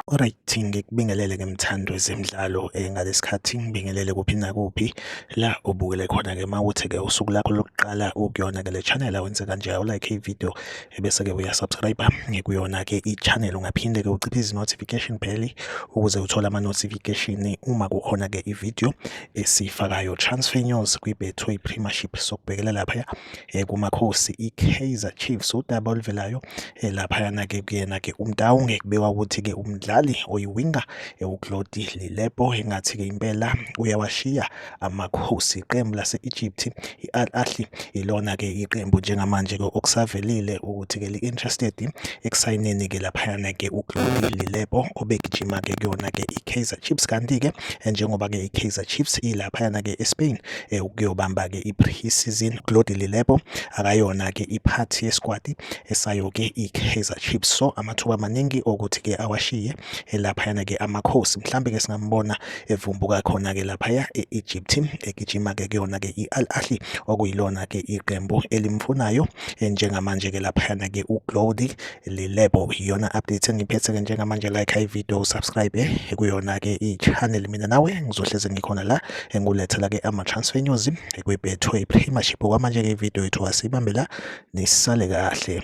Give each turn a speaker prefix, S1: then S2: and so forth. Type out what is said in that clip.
S1: Alright, ngikubingelele ke mthando wezemidlalo eh, ngalesikhathi ngibingelele kuphi nakuphi la ubukele khona ke mawuthi ke usuku lakho lokuqala ukuyona ke le channel awenze kanje u like i video ebese-ke uyasubscribe ngekuyona-ke i-channel ungaphinde-ke uciphe izi-notification bell ukuze uthole ama-notification uma kukhona-ke i-video esiyifakayo transfer news kwi-betway premiership sokubhekela laphaya um kumakhosi i-kaizer chiefs udaba oluvelayo um laphayana-ke kuyena-ke umtawunge kubekwa ukuthi-ke umdlali oyiwinga ewuklodi lilepo engathi-ke impela uyawashiya Amakhosi iqembu lase-Egypt i-Al Ahly ilona-ke iqembu njengamanje-ke okusavelile ukuthi-ke li-interested ekusayineni-ke laphayana-ke uGlody Lilepo obegijima-ke kuyona-ke i-Kaizer Chiefs kanti-ke eh, njengoba-ke i-Kaizer Chiefs ilaphayana-ke eSpain eh, ukuyobamba-ke i-pre-season Glody Lilepo akayona-ke iphathi yeskwati esayo-ke i-Kaizer Chiefs so amathuba amaningi okuthi-ke awashiye elaphayana ke amakhosi mhlambe ke singambona evumbuka khona ke laphaya e-Egypt egijima ke kuyona ke i-Al Ahly okuyilona ke iqembu elimfunayo eh, njengamanje ke laphayana ke uGlody Lilebo iyona update engiphethe ke njengamanje like i video subscribe eh, kuyona ke i-channel mina nawe ngizohleze ngikhona la engulethela ke ama transfer news kwibethwe i-Premiership kwamanje ke video yethu asibambela nisale kahle